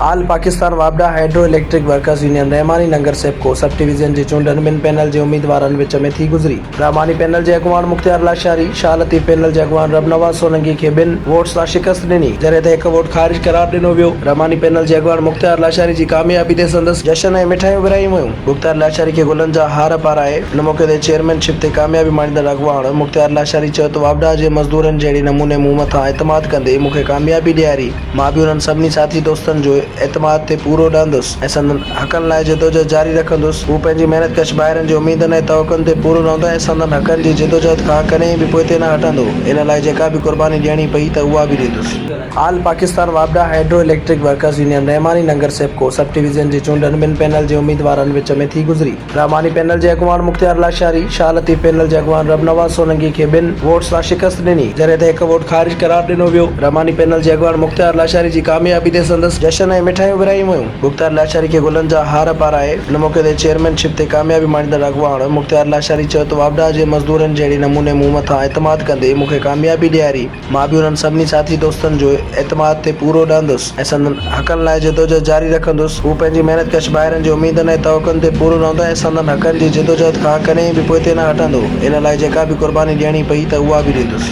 آل پاڪستان واپڊا hydro electric workers union Rahmani Nagar SEPCO sub division جي چونڊن ٻن پينل جي اميدوارن وچ ۾ ٿي گذري. رحماني پينل جي اڳواڻ مختيار لاشاري شاهه لطيف پينل جي اڳواڻ رب نواز سولنگي کي ٻن ووٽس سان شڪست ڏني جڏهن ته هڪ ووٽ خارج قرار ڏنو ويو. رحماني پينل جي اڳواڻ مختيار لاشاري جي ڪاميابي تي سندس جشن ۽ مٺايون ورهايون ويون. مختيار لاشاري کي گلن جا هار پارائي ان موقعي تي چيئرمين شپ تي ڪاميابي ماڻيندڙ اڳواڻ مختيار لاشاري چيو ته واوڊا جي مزدورن جهڙي نموني مون مٿان اعتماد ڪندي مون کي ڪاميابي ڏياري، مان به انهن سڀني ساٿي دوستن جو اعتماد تي پورو رهندس ۽ سندن حقن لاء جدوجهد جاري رکندس، هو پنهنجي محنت ڪش ڀائرن جي اميدن ۽ توقعن تي پورو رهندو ۽ سندن حقن جي جدوجهد کان ڪڏهن به پوئتي نه هٽندو، ان لاء جيڪا به قرباني ڏيڻي پئي ته اها به ڏيندس. آل پاڪستان واپڊا hydro electric workers union Rahmani Nagar SEPCO sub division جي چونڊن ٻن پينل جي اميدوارن وچ ۾ ٿي گذري. رحماني پينل جي اڳواڻ مختيار لاشاري شاهه لطيف پينل جي اڳواڻ رب نواز سولنگي کي ٻن ووٽ سان شڪست ڏني جڏهن ته هڪ ووٽ خارج قرار ڏنو ويو. رحماني پينل جي اڳواڻ مختيار لاشاري جي ڪاميابي تي سندس جشن ۽ مٺايون ورهايون ويون. مختيار لاشاري کي گلن جا هار پارائي ان موقعي تي چيئرمين شپ تي ڪاميابي ماڻيندڙ اڳواڻ مختيار لاشاري چيو ته واپڊا جي مزدورن جهڙي نموني مون مٿان اعتماد ڪندي مون کي ڪاميابي ڏياري. مان به انهن سڀني ساٿي دوستن جي اعتماد تي پورو رهندس ۽ سندن حقن لاء جدوجهد جاري رکندس. هو پنهنجي محنت ڪش ڀائرن جي اميدن ۽ توقعن تي پورو رهندو ۽ سندن حقن جي جدوجهد کان ڪڏهن به پوئتي نه هٽندو. ان لاء جيڪا به قرباني ڏيڻي پئي ته اها به ڏيندس.